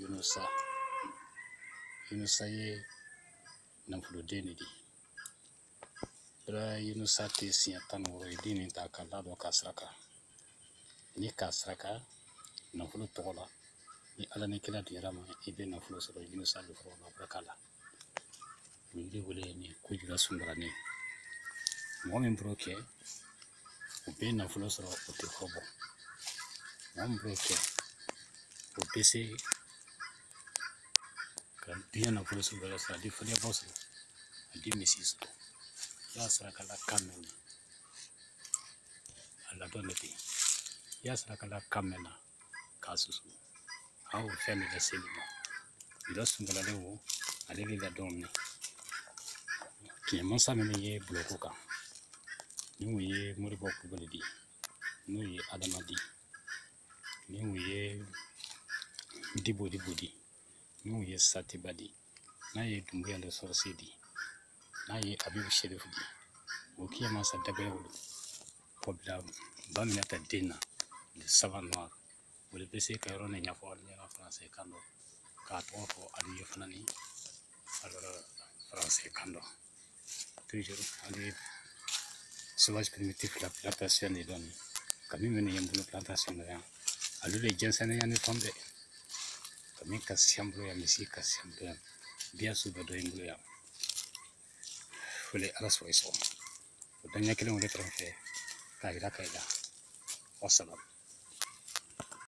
yunusa yunusa ye nafoloden de di bara yunusa tɛ siɲɛ tan ni wɔɔrɔ ye den nin ta k'a la dɔ k'a saraka n'i k'a saraka nafolo tɔgɔ la ni ala ni kira diɲara ma i bɛ nafolo sɔrɔ yunusa de fɔlɔ la barika la O yiri wele ni ko jula sungalanin ye mɔgɔ min b'o kɛ o bɛ nafolo sɔrɔ o tɛ kɔ bɔ mɔgɔ min b'o kɛ o bɛ se ka diɲɛ nafolo sɔrɔ bɛɛ sɔrɔ a di fɔlɛbɔ sɔrɔ a di misi sɔrɔ i y'a saraka la kan mɛn na a ladɔn de bɛ yen i y'a saraka la kan mɛn na k'a susu an y'o fɛn de lase i ma dɔ sungala le wo ale bɛ ka dɔn minɛ kiɲɛ masa minnu ye bulɔko kan ni o ye moribɔ kulubali di n'o ye adama di ni o ye dibodibo di ni o ye satiba di n'a ye dunbuya de sɔrɔsi di n'a ye abibu serifu di o kiɲɛ masa dabɛrɛ wolo kɔ bila ba minata den na le savant noir o de bɛ se ka yɔrɔ nin ɲɛfɔ ne ka faransi kan dɔ k'a tɔgɔ fɔ alu ye fana ni faransi kan dɔ toujours an bɛ sauvage primitif la plantation de dɔn kami minnu ye n bolo plantation na yan ale de jɛnsɛnnen yan ni fɛn bɛɛ kami ka siya n bolo yan misi ka siya n bolo yan biyan su bɛɛ dɔ ye n bolo yan fole ala sɔrɔ i sɔgɔma o daɲɛ kelen o de kɛrɛfɛ k'a yira ka i la wasalamu